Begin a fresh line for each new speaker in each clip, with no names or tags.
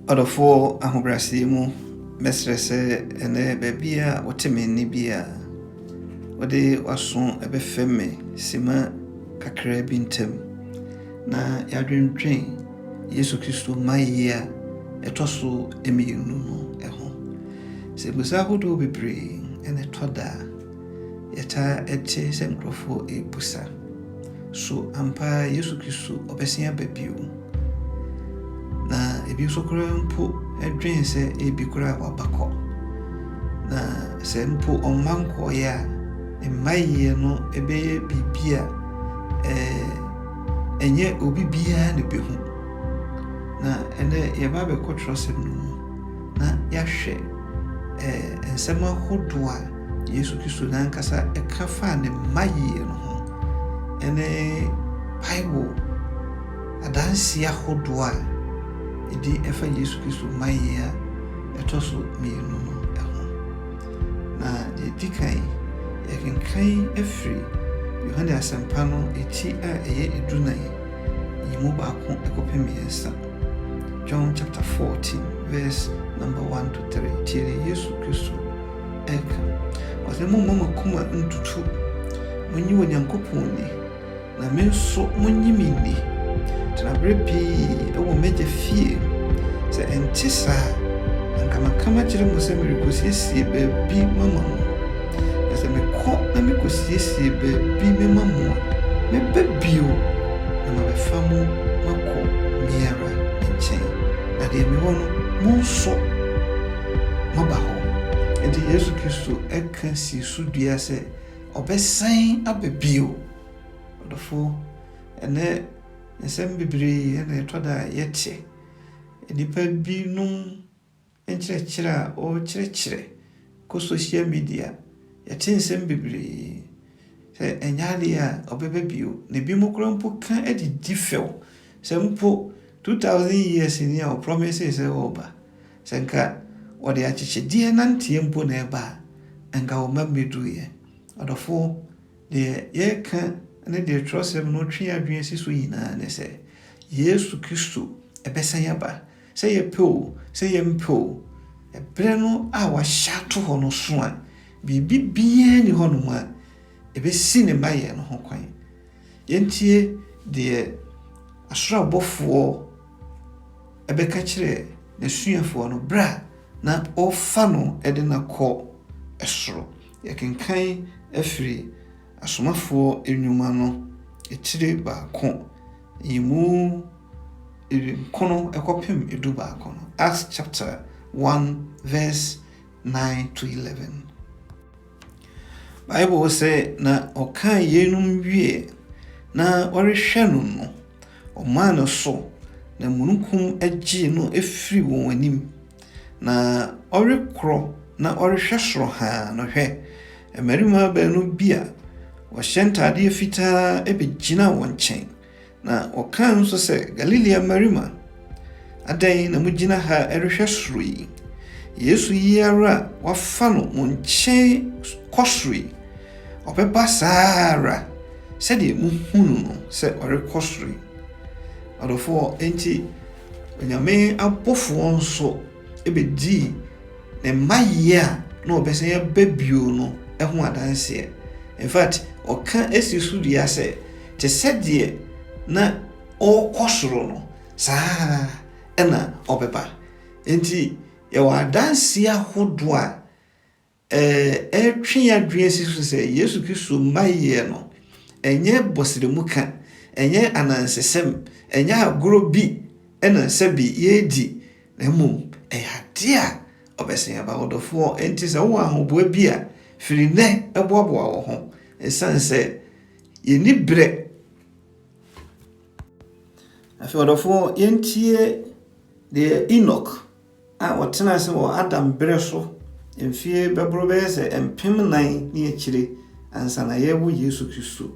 Ɔdɔfoɔ, ahobrɛaseɛ mu, mɛsrɛ sɛ ɛnnɛ baabiara a wote me nne biara, wode w'aso bɛfɛm me sima kakraa bi ntam na yɛadwendwen Yesu Kristo mmaeɛ a ɛtɔ so mmienu no ho. Sɛ mmusa ahodoɔ bebree na ɛtɔ da a, Yɛtaa te sɛ nkurɔfoɔ rebisa, So ampa ara Yesu Kristo ɔbɛsan aba bio? Na ebi nso koraa mpo dwen sɛ ebi koraa waba kɔ. Na sɛ mpo ɔmma nkɔeɛ a, ne mmaeɛ no bɛyɛ biribi a ɛnyɛ obi biara na ɛbɛhu. Na ɛnɛ yɛba abɛkɔ twerɛsɛm no mu. na yɛahwɛ nsɛm ahodoɔ a Yesu Kristo n'ankasa ka faa ne mma yie no ho, ne Bible adanseɛ ahodoɔ a ɛdi fa Yesu Kristo mma yie a ɛtɔ so mmienu no ho. Na deɛ ɛdi kan, yɛkenkan afiri Yohane Asɛmpa no ti a ɛyɛ edunan yi mu baako kɔpem mmiɛnsa. John chapter fourteen verse number one to three, tie deɛ Yesu Kristo ɛka. Ɔsɛ mo mma mo akoma ntutu, mo nyi Onyankopɔn ni, na me nso mo nyi me ni. Tena berɛ pii wɔ m'agya fie, sɛ ɛnte saa, anka maka makyerɛ mo sɛ merekɔsiesie baabi mama mo. Na sɛ mekɔ na mikosiesie baabi mema mo a, mɛba bio, na mabɛfa mo makɔ me ara me nkyɛn, na deɛ mewɔ no, mo nso moaba hɔ. Enti Yesu Kristo ka sii so dua sɛ ɔbɛsan aba bio. Ɔdɔfoɔ, ɛnnɛ nsɛm bebree na ɛtɔ da a yɛte. Nnipa binom nkyerɛkyerɛ a ɔrekyerɛkyerɛ kɔ social media, yɛte nsɛm bebree sɛ ɛnyɛ adeɛ a ɔbɛba bio, na ebinom koraa mpo ka de di fɛw sɛ mpo 2000 years ni a ɔprɔmesee sɛ ɔreba, sɛ nka wɔde akyekyedeɛ nanteɛ mpo na ɛba a, anka ɔmma mmɛduruiɛ. Ɔdɔfoɔ, deɛ yɛreka ne deɛ twerɛsɛm no twe yɛn adwene si so nyinaa ne sɛ, Yesu Kristo bɛsan aba. Sɛ yɛpɛ o, sɛ yɛmpɛ o, ɛberɛ no a wɔahyɛ ato hɔ no so a, biribi biara nni hɔnom a ɛbɛsi ne mmaeɛ no ho kwan. Yɛntie deɛ ɔsoro abɔfoɔ bɛka kyerɛ n'asuafoɔ no berɛ a na wɔrefa no de no akɔ soro. Yɛkenkan afiri Asomafoɔ nnwuma no etire baako yimu ewimkron kɔpem edu baako no, Acts chapter one verse nine to eleven. Bible sɛ na ɔkaa yeinom wie na wɔrehwɛ no no, wɔmaa ne so na mununkum gyee no firii wɔn anim, Na ɔrekorɔ na ɔrehwɛ soro haa no, hwɛ! mmarima baanu bi a wɔhyɛ ntadeɛ fitaa bɛgyinaa wɔn nkyɛn, na wɔkaa nso sɛ, Galilea mmarima, adɛn na mogyina ha rehwɛ soro yi? Yesu yi ara a wɔafa no mo nkyɛn kɔ soro yi, ɔbɛba saa ara sɛdeɛ mohunu no sɛ ɔrekɔ soro yi. Ɔdɔfoɔ, enti Onyame abɔfoɔ nso bɛdii ne mma yie a na wɔbɛsan aba bio no ho adanseɛ. In fact, ɔka si so dua sɛ, te sɛ deɛ na ɔrekɔ soro no, saa ara na ɔbɛba. Enti yɛwɔ adanseɛ ahodoɔ a Ɛretwe yɛn adwene asi so sɛ Yesu Kristo mma yɛ no, ɛnyɛ bɔsrɛmuka, ɛnyɛ anansesɛm, ɛnyɛ agorɔ bi na sɛbe yɛredi, na mmom ɛyɛ adeɛ a ɔbɛsɛn aba. Ɔdɔfoɔ, enti sɛ wowɔ ahoboa bi a, firi nnɛ boaboa wo ho, ɛsiane sɛ yɛnni berɛ. Afei ɔdɔfoɔ, yɛntie deɛ Enoch. a ɔtenaa ase wɔ Adam bere so mfe bɛboro bɛyɛ sɛ mpem nnan ne akyiri ansa na yɛrewo Yesu Kristo.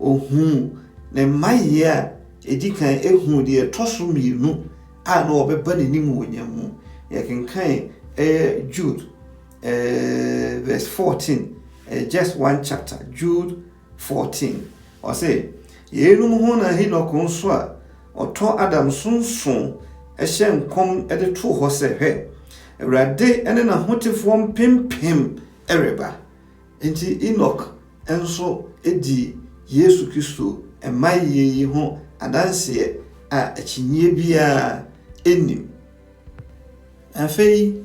Ohuu ne mmayɛ a edi kan huu deɛ ɛtɔ so mmienu a na wɔbɛba n'anim wɔ nya mu. Yɛkenkan ɛyɛ Jude eh, verse 14, eh, just one chapter, Jude 14, ɔse, Yeinom ho na Henok nso a ɔtɔ Adam so nso hyɛɛ nkɔm de too hɔ sɛ, Hwɛ! Awurade ne n'ahotefoɔ mpempem reba. Enti Henok nso dii Yesu Kristo mmaeɛ yi ho adanseɛ a akyinnyeɛ biara nnim. Afei.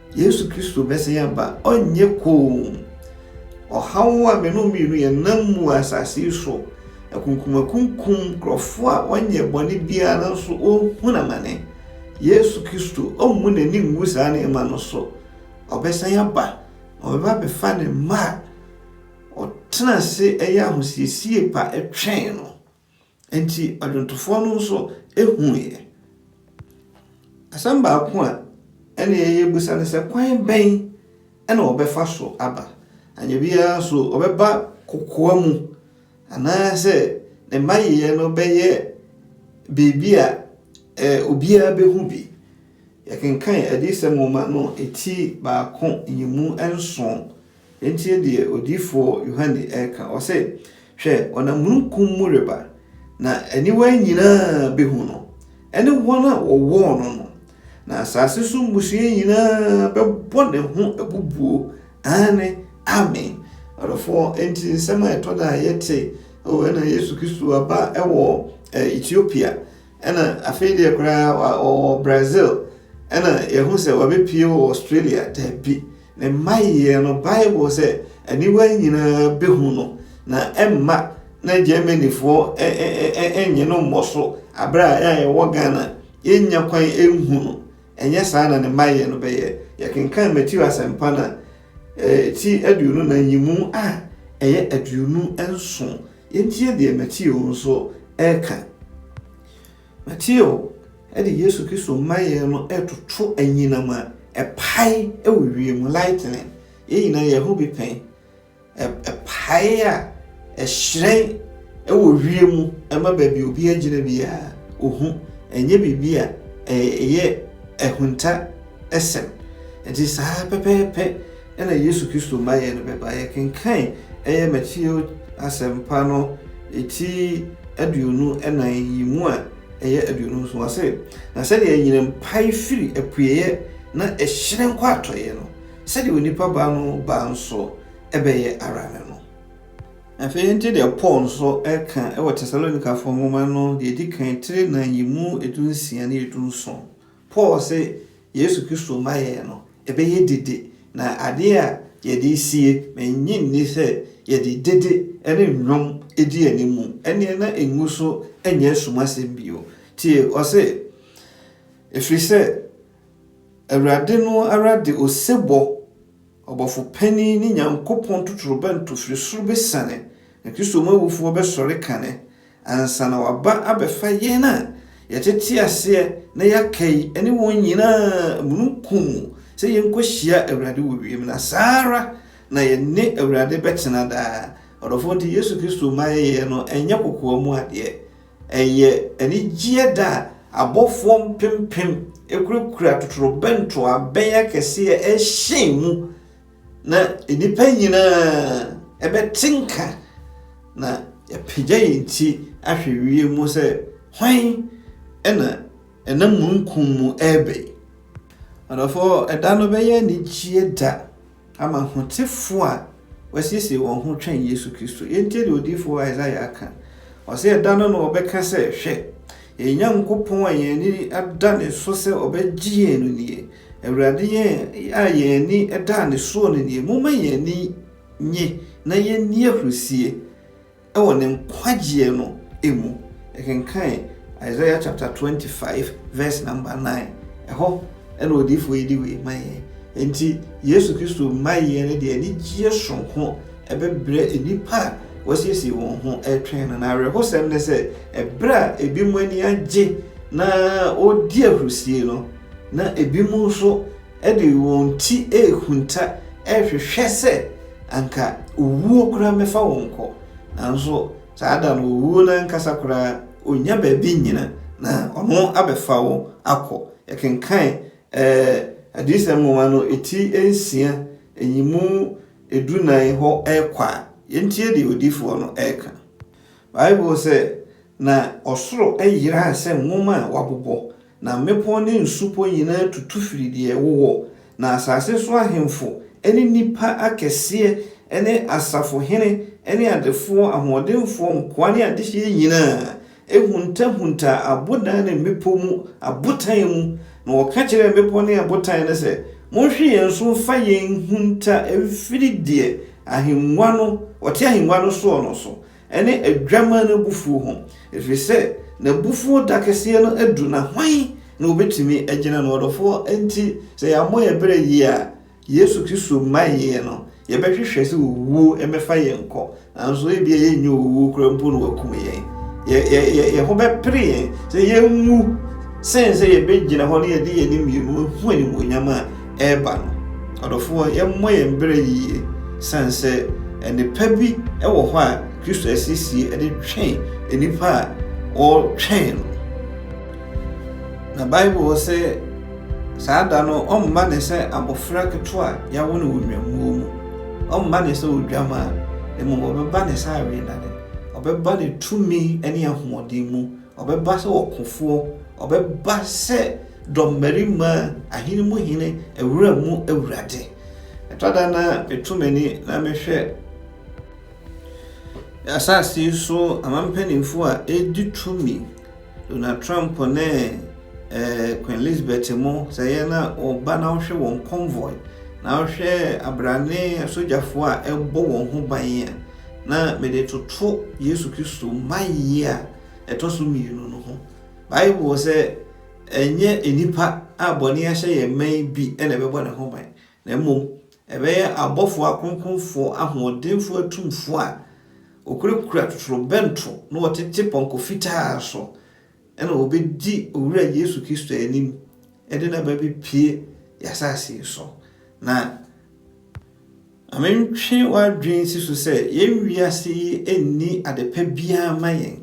Yesu Kristo bɛsan aba, ɔnyɛ komm. Ɔhaw a me ne wo mmienu yɛnam mu wɔ asase yi so, akunkumakunkum, nkurɔfoɔ a wɔnyɛ bɔne biara nanso wɔrehunu amane. Yesu Kristo, ɔmmu n'ani ngu saa nneɛma no so. Ɔbɛsan aba, ɔbɛba abɛfa ne mma a wɔtena ase yɛ ahosiesie pa twɛn no. Enti adwontofoɔ no nso huiɛ. Asɛm baako a ɛnneɛ yɛbisa ne sɛ, kwan bɛn na wɔbɛfa so aba? Anyɛ biara nso, wɔbɛba kokoa mu anaasɛ ne mmayeɛ no bɛyɛ biribi a obiara bɛhu bi? Yɛkenkan Adiyisɛm nwoma no ti baako nyimu nson Yɛntie deɛ odiyifoɔ Yohane reka, ɔse, Hwɛ, ɔnam mununkum mu reba, na aniwa nyina ara bɛhu no, ɛne wɔn a wɔwɔɔ no no, na asase so mmusua nyina ara bɛbɔ ne ho abubuo, aane, Amen. Adɔfoɔ, enti nsɛm a ɛtɔ da a yɛte, o, ɛna Yesu Kristo aba wɔ Ethiopia, Ɛna afei deɛ koraa wa ɔwɔ Brazil ɛna yɛhu sɛ wabɛpie wɔ Australia daabi ne mma yeɛ no Bible sɛ aniwa nyinaa bɛhu no na ɛmma na Germanyfoɔ ɛnyɛ no mmɔ so aberɛ a ɛa yɛwɔ Ghana yɛnya kwan ɛnhu no ɛnyɛ saa na ne mma yeɛ no bɛyɛ yɛkenkan Matthew asɛmpa na ti aduonu na nyimu a ɛyɛ aduonu nson Yɛntie deɛ Mateo nso reka. Mateo de Yesu Kristo mmaeɛ no retoto anyinam a ɛpae wɔ wiem, lightning. Yɛn nyinaa yɛho bi pɛn. Ɛpae a ɛhyerɛn wɔ wiem ma baabi obi agyina biara ohu. Ɛnyɛ biribi a ɛyɛ ahunta sɛm. Nti saa pɛpɛɛpɛ na Yesu Kristo ma yɛn no bɛba. Yɛkenkan ɛyɛ Mateo Asɛmpa no ti aduonu nan yi mu a ɛyɛ aduonu nson, ɔse, Na sɛdeɛ anyinam pae firi apueeɛ na ɛhyerɛn kɔ atɔeɛ no, sɛdeɛ onipa ba no ba nso bɛyɛ ara ne no. Afei yɛntie deɛ Paul nso ka wɔ Tesalonikafoɔ nwoma no deɛ ɛdi kan tire nan yi mu edu nsia ne edu nson. Paul se Yesu Kristo mma yɛn no, ɛbɛyɛ dede, na adeɛ a yɛde resie, mennye nni sɛ yɛde dede ne nnwom di animu, ɛnneɛ na ɛngu so nyɛ asumasɛm bio. Tie, ɔse, Ɛfiri sɛ Awurade no ara de osebɔ Ɔbɔfo Panin ne Nyankopɔn totorobɛnto firi soro bɛsiane, na Kristo mu awufoɔ bɛsɔre kane, ansa na waba abɛfa yɛn a yɛtete aseɛ na yɛaka yi ne wɔn nyina ara mununkum mu sɛ yɛnkɔhyia Awurade wɔ wiem, na saa ara na yɛne Awurade bɛtena daa. Ɔdɔfoɔ nti Yesu Kristo mayɛyɛ no nyɛ kokoa mu adeɛ. Ɛyɛ anigyeɛ da a abɔfoɔ mpempem kurakura totorobɛnto abɛn akɛseɛ rehyɛn mu, na nnipa nyina ara bɛte nka, na yɛapagya yɛn ti ahwɛ wiem mu sɛ, Hwan na ɛnam mununkum mu reba yi? Adɔfoɔ, ɛda no bɛyɛ anigyeɛ da Ama ahotefo a wɔasiesie wɔn ho twɛn Yesu Kristo. Yɛntie deɛ odiyifoɔ Isaiah ka. Ɔse, Ɛda no na wɔbɛka sɛ, Hwɛ! Yɛn Nyankopɔn a yɛn ani da ne so sɛ ɔbɛgye yɛn no nie, Awurade yɛn a yɛn ani da ne soɔ no nie, momma yɛn ani nnye na yɛnni ahurisie. Wɔ ne nkwagyeɛ no mu. Yɛkenkan Isaiah chapter 25 verse number 9, ɛhɔ na odiyifoɔ yi de wei ma yɛn. Enti Yesu Kristo mmaeɛ no deɛ anigyeɛ soronko bɛbrɛ nnipa a wɔasiesie wɔn ho retwɛn no. Na awerɛhosɛm ne sɛ, ɛberɛ a ebinom ani agye na wɔredi ahurisie no, na ebinom nso de wɔn ti rehunta rehwehwɛ sɛ anka owuo koraa mmɛfa wɔn kɔ, nanso saa da no owuo no ankasa koraa ɔnnya baabi nnyina na ɔno abɛfa wo akɔ. Yɛkenkan Adiyisɛm nwoma no ti nsia yi mu du nan hɔ rekɔ a, yɛntie deɛ odiyifoɔ no reka. Bible sɛ, Na ɔsoro yeraa sɛ nwoma a wɔabobɔ, Na mmepɔw ne nsupɔ nyinaa tutu firi deɛ ɛwo wɔ, na asase so ahemfo ne nnipa akɛseɛ ne asafohene ne adefoɔ, ahoɔdenfoɔ, nkoa ne adehyeɛ nyinaa huntahuntaa abodan ne mmepɔ mu abotan mu, na wɔka kyerɛɛ mmepɔ ne abotan no sɛ, Monhwe yɛn so mfa yɛn nhunta mfiri deɛ ahengua no, ɔte ahengua no soɔ no so, ne Adwammaa no abufuo ho, ɛfiri sɛ n'abufuo da kɛseɛ no aduru, na hwan na ɔbɛtumi agyina no? Ɔdɔfoɔ, enti sɛ yɛammɔ yɛn berɛ yie a, Yesu Kristo mmaeɛ no, yɛbɛhwehwɛ sɛ owuo mmɛfa yɛn nkɔ, nanso ebia yɛnnyɛ owuo koraa mpo na wɔakum yɛn. Yɛ, yɛ, yɛ, yɛn ho bɛpere yɛn sɛ yɛnwu sen sɛ yɛbɛgyina hɔ na yɛde yɛn anim mmienu ahu animuonyam a reba no. Adɔfoɔ, yɛmmɔ yɛn berɛ yie sane sɛ nnepa bi wɔ hɔ a Kristo asiesie de twɛn nnipa a wɔretwɛn no. Na Bible sɛ saa da no ɔmma ne sɛ abɔfra ketewa a yɛawo no wɔ nnwammuo mu, ɔmma ne sɛ odwamaa, mmom ɔbɛba ne sɛ awenane, ɔbɛba ne tumi ne ahoɔden mu Ɔbɛba sɛ ɔkofoɔ, ɔbɛba sɛ dɔmmarima, ahene mu hene, awura mu awurade. Ɛtɔ da na meto m'ani na mehwɛ asase yi so amampanimfoɔ a ɛredi tumi, Donald Trump ne eh, Queen Elizabeth mo, sɛ yɛ na ɔba na ɔhwɛ wɔn convoy, na ɔhwɛ abrane asogyafoɔ a ɛbɔ wɔn ho ban a, na mede toto Yesu Kristo mayie a ɛtɔ so mmienu no ho. Bible sɛ ɛnyɛ nnipa a bɔne ahyɛ yɛn ma yi bi na ɛbɛbɔ ne ho ban, na mmom ɛbɛyɛ abɔfoɔ akronkronfoɔ ahoɔdenfoɔ atumfoɔ a wɔkurakura totorobɛnto na wɔtete pɔnkɔ fitaa so na wɔbɛdi Owura Yesu Kristo anim de no aba bɛpue yɛn asase so. Na Ma mentwe w'adwene nsi so sɛ yɛn wiase yi nni ade pa biara mma yɛn.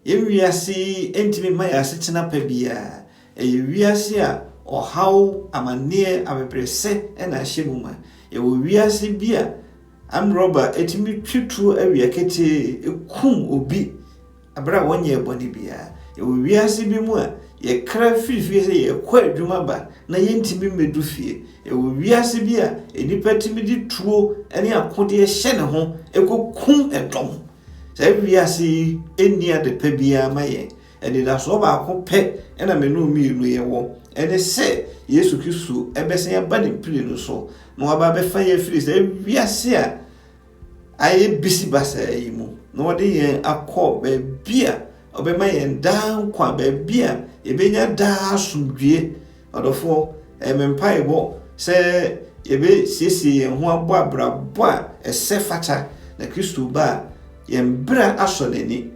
Yɛn wiase yi ntumi mma yɛn asetena pa biara. Ɛyɛ wiase a ɔhaw, amanneɛ, abɛbrɛsɛ na ahyɛ mu ma. Yɛwɔ wiase bi a amrɔba tumi twe tuo awia ketee kum obi. Bere a wɔnyɛɛ bɔne biara. Yɛwɔ wiase bi mu a yɛkra firi fie sɛ yɛrekɔ adwuma ba na yɛntumi mmɛdu fie. Yɛwɔ wiase bi a nnipa tumi de tuo ne akodeɛ hyɛ ne ho kɔkum dɔm. Saa wiase yi nni ade pa biara ma yɛn. Anidasoɔ baako pɛ na me ne wo mmienu yɛwɔ. Ɛne sɛ Yesu Kristo bɛsan aba ne mprenu so na waba abɛfa yɛn afiri saa wiase a Ayɛ bisi basaa yi mu na ɔde yɛn akɔ baabi a ɔbɛma yɛn daa nkwa, baabi a yɛbɛnya daa asomdwie. Ɔdɔfoɔ, ɛyɛ me mpaebɔ sɛ yɛbɛsiesie yɛn ho abɔ abrabɔ a ɛsɛ fata na Kristo ba a, yɛn berɛ asɔ n'ani.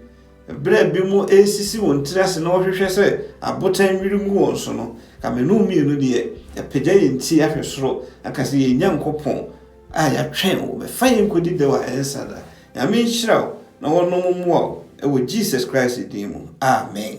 Berɛ bi mo resisi wɔn tiri ase na wɔhwehwɛ sɛ abotan nnwiri ngu wɔn so no, ka me ne wo mmienu deɛ, yɛapagya yɛn ti ahwɛ soro, na ka sɛ, Yɛn Nyankopɔn, A yɛatwɛn wo bɛfa yɛn nkɔdi dɛw a ɛnsa da. Nyame nhyira wo na wɔnom mmoa wo wɔ Jesus Christ din mu, amen.